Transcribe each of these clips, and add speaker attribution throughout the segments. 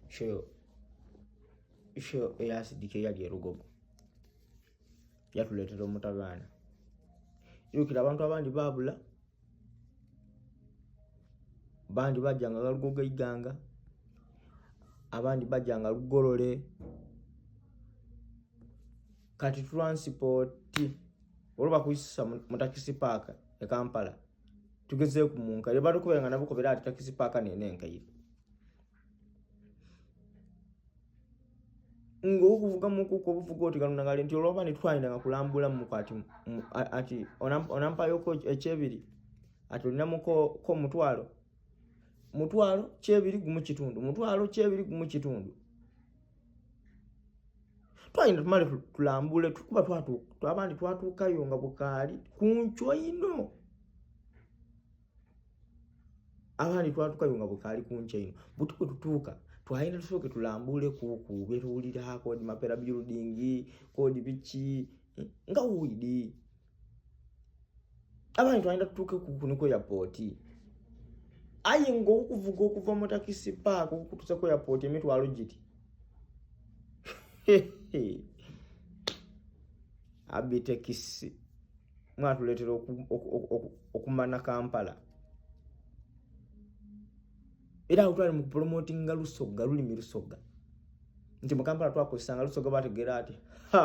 Speaker 1: Isho yo isho eyasidika eyali erugogo yatuleetera omutabaana irukira abantu abandi babula bandi bajanga nga lugogo iganga abandi bajanga lugolole kati transport olwo bakuisisa mu takisi paaka e kampala tugeze ku munka lyo bali kubera nabo kubera ati takisi paka ne ne nkayi ngo kuvuga muku ko buvuga oti kanuna ngale nti oloba ni twaina nga kulambula mu kwati ati onam onampa yoko echebiri ati olina muko ko mutwalo mutwalo chebiri gumu kitundu mutwalo chebiri gumu kitundu twagenda tumale tulambule tukuba twabandi twatuukayo nga bukaali ku nkyo ino abandi twatuukayo nga bukaali ku nkyo ino buti kwe tutuuka twagenda tusooke tulambule kuku betuwulira kodi mapera building kodi biki nga widi abantu balina tutuuke ku kuniko ya pooti aye ngaokuvuga okuva mu takisi paaka okukutusako ya pooti emitwalo giti abitekisi mwatuleetera okumana kampala era awo twali mukupromotinga lusoga lulimi lusoga nti mukampala twakozesanga lusoga bategeera ati ha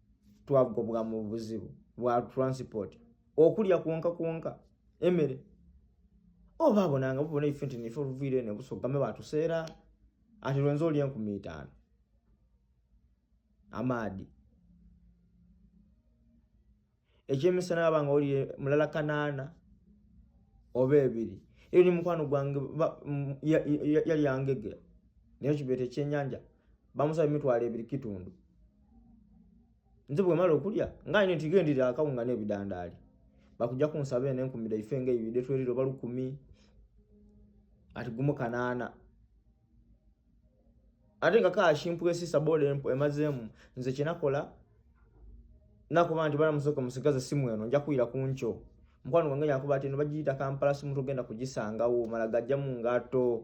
Speaker 1: twagobwa mu buzibu bwa transport okulya kwonka kwonka emere oba abonanga bubona ife nti nife oluviire ne busogame batuseera ati lwenza olya enkumi itaano amaadi ekyemisana aba nga oli mulala kanaana oba ebiri eyo ni mukwano gwange yali yangegera naye kibeeta ekyenyanja bamusaba emitwalo ebiri kitundu nze bwemala okulya nga ine tigendera akawunga n'ebidandaali bakujja kunsaba eno enkumira ife nga ebibide tweriro balukumi ati gumu kanaana ate nga kaashimpwesi sabola emazeemu nze kyenakola nakuba nti bana musoke musigaza simu eno nja kuyira ku nkyo mukwano gwange yakuba ati eno bagiyita kampala simu togenda kugisangawo mala gajja mu ngato